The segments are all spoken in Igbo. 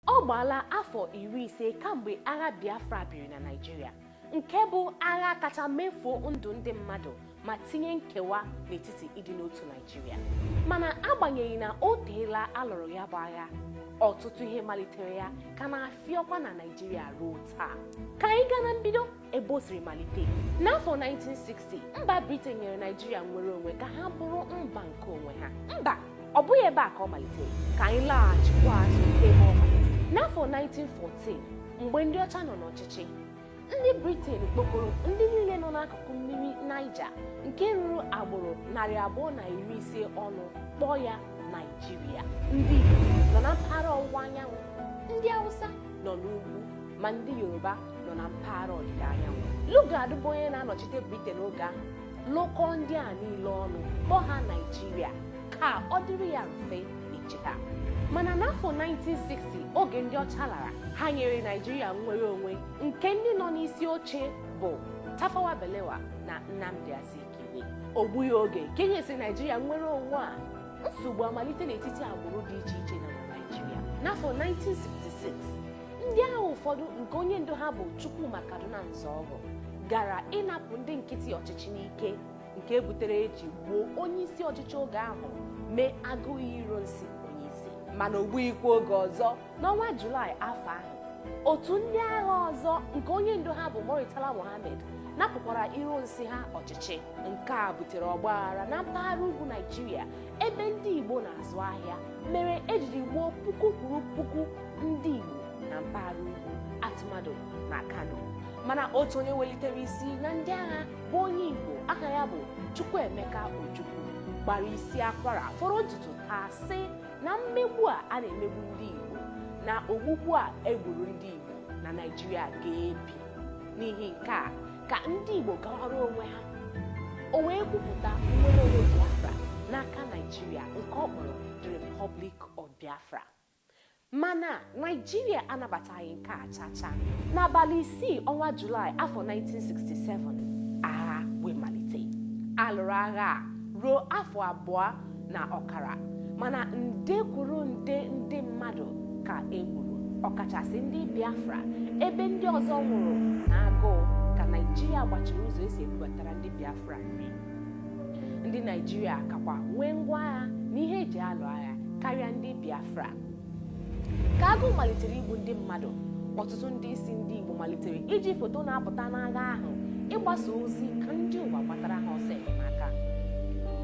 Ọ gbaala afọ iri ise kamgbe agha Biafra biri na Naịjirịa nke bụ agha kacha mefuo ndụ ndị mmadụ ma tinye nkewa n'etiti ịdị n'otu Naịjirịa mana agbanyeghị na o teela alụrụ ya bụ agha ọtụtụ ihe malitere ya ka na-afịọkwa na Naịjirịa ruo taa ka anyị gaa na mbido ebe o siri malite n'afọ 1960 mba briten nyere naijiria nnwere onwe ka ha bụrụ mba nke onwe ha mba ọ bụghị ebe a ka ọ malitere ka anyị laghachikwa azụ ebe ọ malitere n'afọ 1914 mgbe ndị ọcha nọ n'ọchịchị ndị briten kpọkọrọ ndị niile nọ n'akụkụ mmiri naija nke ruru agbụrụ narị abụọ na iri ise ọnụ kpọọ ya naijiria ndị igbo nọ na mpaghara ọwụwa anyanwụ ndị hausa nọ n'ugwu ma ndị yoruba nọ na mpaghara ọdịda anyanwụ lugard bụ onye na-anọchite briten oge ahụ lụkọọ ndị a niile ọnụ kpọọ ha naijiria ka ọ dịrị ya mfe ịchị ha mana n'afọ 1960 oge ndị ọcha lara ha nyere naijiria nnwere onwe nke ndị nọ n'isi oche bụ tafawa balewa na nnamdi azikiwe o gbughị oge ka enyesịrị naijiria nnwere onwe a nsogbu amalite n'etiti agbụrụ dị iche iche na naijiria n'afọ 1966 ndị agha ụfọdụ nke onye ndu ha bụ Chukwuma Kaduna Nzeogwu gara ịnapụ ndị nkịtị ọchịchị n'ike nke butere eji gbuo onye isi ọchịchị oge ahụ mee Aguiyi Ironsi onye isi mana o gbughịkwa oge ọzọ n'ọnwa Julaị afọ ahụ otu ndị agha ọzọ nke onye ndu ha bụ Murtala Mohammed napụkwara Ironsi ha ọchịchị nke a butere ọgbaghara na mpaghara ugwu Naijiria ebe ndị Igbo na-azụ ahịa mere ejiri gbuo puku kwuru puku ndị Igbo na mpaghara ugwu a tụmadụ na Kano mana otu onye welitere isi na ndị agha bụ onye Igbo aha ya bụ Chukwuemeka Ojukwu gbara isi akwara fọrọ ntutu taa sị na mmegbu a a na-emegbu ndị Igbo na ogbugbu a egburu ndị Igbo na Naịjirịa ga-ebi n'ihi nke a ka ndị Igbo gawara onwe ha o wee kwupụta nnwere onwe Biafra n'aka Naijiria nke ọ kpọrọ the Republic of Biafra mana Naijiria anabataghị nke a chacha n'abalị isii ọnwa Julaị afọ 1967 agha wee malite alụrụ agha a ruo afọ abụọ na ọkara mana nde kwuru nde ndị mmadụ ka e gburu ọkachasị ndị Biafra ebe ndị ọzọ nwụrụ n'agụụ ka Naịjirịa gbachiri ụzọ esi ebubatara ndị Biafra nri ndị Naịjirịa kakwa nwee ngwa agha na ihe eji alụ agha karịa ndị Biafra ka agụụ malitere igbu ndị mmadụ ọtụtụ ndị isi ndị Igbo malitere iji foto na-apụta n'agha ahụ ịgbasa ozi ka ndị ụwa gbatara ha ọsọ enyemaka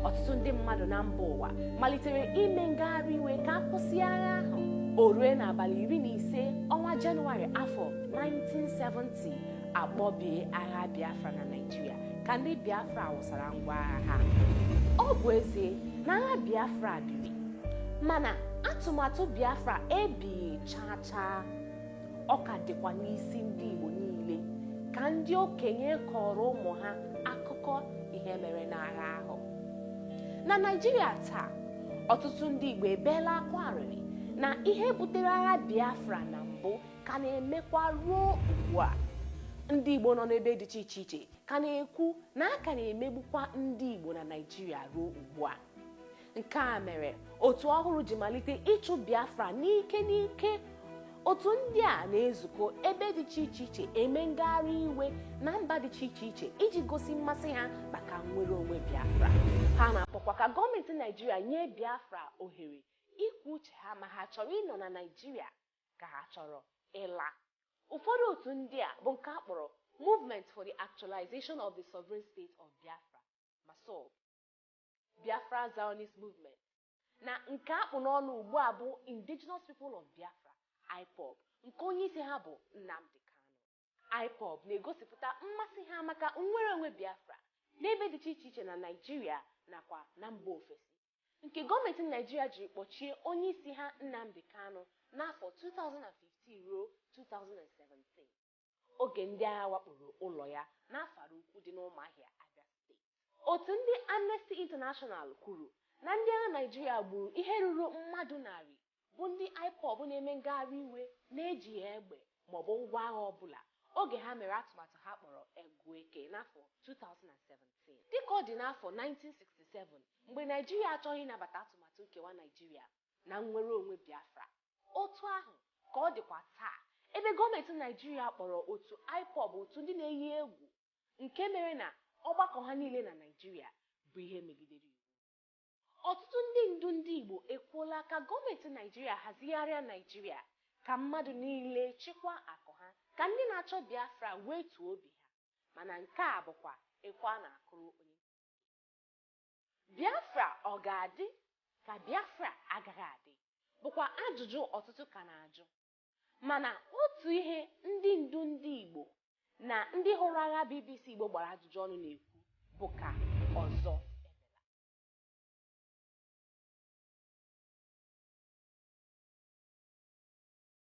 ọtụtụ ndị mmadụ na mba ụwa malitere ime ngagharị iwe ka a kwụsị agha ahụ o rue n'abalị iri na ise ọnwa jenụwarị afọ 1970 a kpọbie agha Biafra na Naịjirịa ka ndị Biafra wụsara ngwa agha ha ọ bụ ezie na agha Biafra biri mana atụmatụ biafra ebighị chaa chaa ọ ka dịkwa n'isi ndị igbo niile ka ndị okenye kọọrọ ụmụ ha akụkọ ihe mere n'agha ahụ na naijiria taa ọtụtụ ndị igbo ebeela akwa arịrị na ihe butere agha biafra na mbụ ka na-emekwa ruo ugbu a ndị igbo nọ n'ebe dị iche iche iche ka na-ekwu na a ka na-emegbukwa ndị igbo na naijiria ruo ugbu a nke a mere otu ọhụrụ ji malite ịchụ biafra n'ike n'ike otu ndị a na-ezukọ ebe dị iche iche iche eme ngagharị iwe na mba dị iche iche iche iji gosi mmasị ha maka nnwere onwe biafra ha na-akpọkwa ka gọọmenti naijiria nye biafra ohere ikwu uche ha ma ha chọrọ ịnọ na naijiria ka ha chọrọ ịla ụfọdụ otu ndị a bụ nke a kpọrọ movement for the actualization of the sovereign state of biafra massob Biafra Zionist Movement, na nke a kpụ n'ọnụ ugbu a bụ Indigenous People of Biafra, IPOB, nke onyeisi ha bụ Nnamdi Kanu. IPOB na-egosipụta mmasị ha maka nnwereonwe Biafra n'ebe dịcha iche iche na Naịjirịa nakwa na mba ofesi, nke gọọmenti Naịjirịa jiri kpọchie onyeisi ha Nnamdi Kanu n'afọ 2015 ruo 2017. oge ndị agha wakporo ụlọ ya n'Afara Ukwu dị n'Ụmụahịa, Abịa Steeti. Otu ndị Amnesty International kwuru na ndị agha Naịjirịa gburu ihe ruru mmadụ narị bụ ndị Ipob na-eme ngagharị iwe na-ejighị egbe maọbụ ngwa agha ọbụla oge ha mere atụmatụ ha kpọrọ Egwu Eke n'afọ 2017. Dịka ọ dị n'afọ 1967 mgbe Naịjirịa achọghị ịnabata atụmatụ nkewa Naịjirịa na nnwereonwe Biafra, Otu ahụ ka ọ dịkwa taa, ebe gọọmentị Naịjirịa kpọrọ otu Ipob otu ndị na-eyi egwu nke mere na ọgbakọ ha niile na Naịjirịa bụ ihe megidere iwu. Ọtụtụ ndị ndu ndị Igbo ekwuola ka gọọmentị Naịjirịa hazigharịa Naịjirịa ka mmadụ niile chịkwaa akụ ha ka ndị na-achọ Biafra wetuo obi ha, mana nke a bụkwa ekwe a na-akụrụ onye ntị chiri. Biafra ọ ga-adị ka Biafra agaghị adị bụkwa ajụjụ ọtụtụ ka na-ajụ. Mana otu ihe ndị ndu ndị Igbo na ndị hụrụ agha BBC Igbo gbara ajụjụ ọnụ na-ekwu bụ ka ọzọ